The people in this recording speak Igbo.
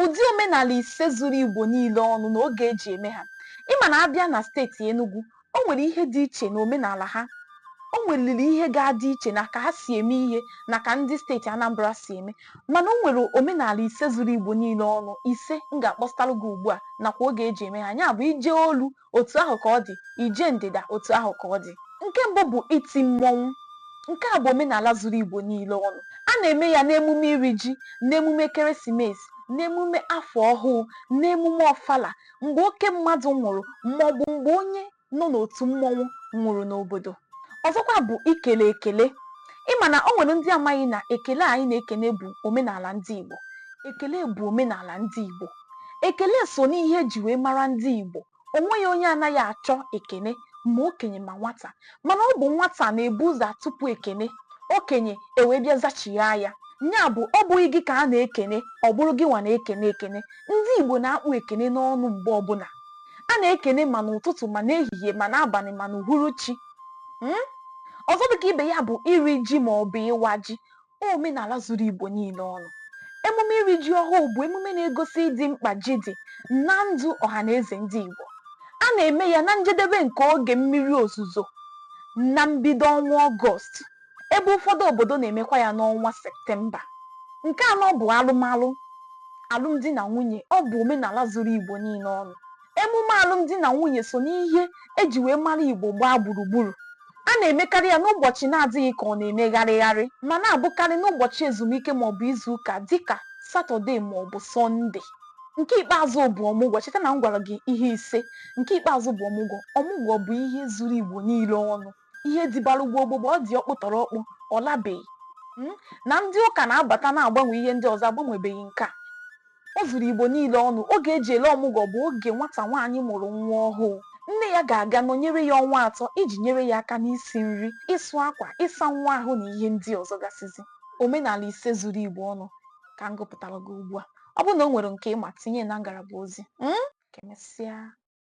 ụdị omenala ise zuru Igbo niile ọnụ na oge e ji eme ha. Ị ma na a bịa na steeti Enugu, o nwere ihe dị iche n'omenala ha. O nweliri ihe ga-adị iche na ka ha si eme ihe na ka ndị steeti Anambra si eme. Mana o nwere omenala ise zuru Igbo niile ọnụ, ise m ga-akpọsatalụ gị ugbu a nakwa oge e ji eme ha, ya bụ i je olu, otu ahụ ka ọ dị, i je ndịda otu ahụ ka ọ dị. Nke mbụ bụ iti mmọnwụ. Nke a bụ omenala zuru Igbo niile ọnụ. A na-eme ya n'emume iri ji, n'emume ekeresimesi, n'emume afọ ọhụụ, n'emume ọfala, mgbe oke mmadụ nwụrụ maọbụ mgbe onye nọ n'otu mmọnwụ nwụrụ n'obodo. Ọzọkwa bụ ikele ekele. Ị ma na o nwere ndị amaghị na ekele anyị na-ekene bụ omenala ndị Igbo. Ekele bụ omenala ndị Igbo. Ekele so n'ihe e ji wee mara ndị Igbo. O nweghị onye anaghị achọ ekene ma okenye ma nwata. Mana ọ bụ nwata na-ebu ụzọ atụpụ ekene, okenye ewee bịa zachighaa ya. Ya bụ, ọ bụghị gị ka a na-ekene, ọ bụrụ gịnwa na-ekene ekene. Ndị Igbo na-akpụ ekene n'ọnụ mgbe ọbụla. A na-ekene ma n'ụtụtụ ma n'ehihie ma n'abalị ma n'uhuruchi. um Ọzọ dịka ibe ya bụ iri ji maọbụ ịwa ji. omenala zuru Igbo niile ọnụ. Emume iri ji ọhụụ bụ emume na-egosi ịdị mkpa ji dị na ndụ ọhanaeze ndị Igbo. A na-eme ya na njedebe nke oge mmiri ozuzo na mbido ọnwa Ọgọst, ebe ụfọdụ obodo na-emekwa ya n'ọnwa Septemba. Nke anọ bụ alụmalụ, alụmdi na nwunye. Ọ bụ omenala zuru Igbo niile ọnụ. Emume alụmdi na nwunye so n'ihe e ji wee mara Igbo gbaa gburugburu. A na-emekarị ya n'ụbọchị na-adịghị ka ọ na-eme gharịgharị ma na-abụkarị n'ụbọchị ezumike maọbụ izuụka dịka Satọde maọbụ Sọnde. Nke ikpeazụ bụ ọmụgwọ. Cheta na m gwara gị ihe ise. Nke ikpeazụ bụ ọmụgwọ. Ọmụgwọ bụ ihe zuru Igbo niile ọnụ. ihe dịbalụ gboo gboo ọ dị ọkpụ tọrọ ọkpụ ọ labeghị Mm? na ndị ụka na-abata na-agbanwe ihe ndị ọzọ agbanwebeghị nke a o zuru Igbo niile ọnụ oge e ji ele ọmụgwọ bụ oge nwata nwaanyị mụrụ nwa ọhụụ nne ya ga-aga nọnyere ya ọnwa atọ iji nyere ya aka n'isi nri ịsụ akwa ịsa nwa ahụ na ihe ndị ọzọ gasịzi omenala ise zuru Igbo ọnụ ka m gụpụtara gị ugbu a ọ bụrụ na o nwere nke ị ma tinye na ngalaba ozi Mm? ka emesịa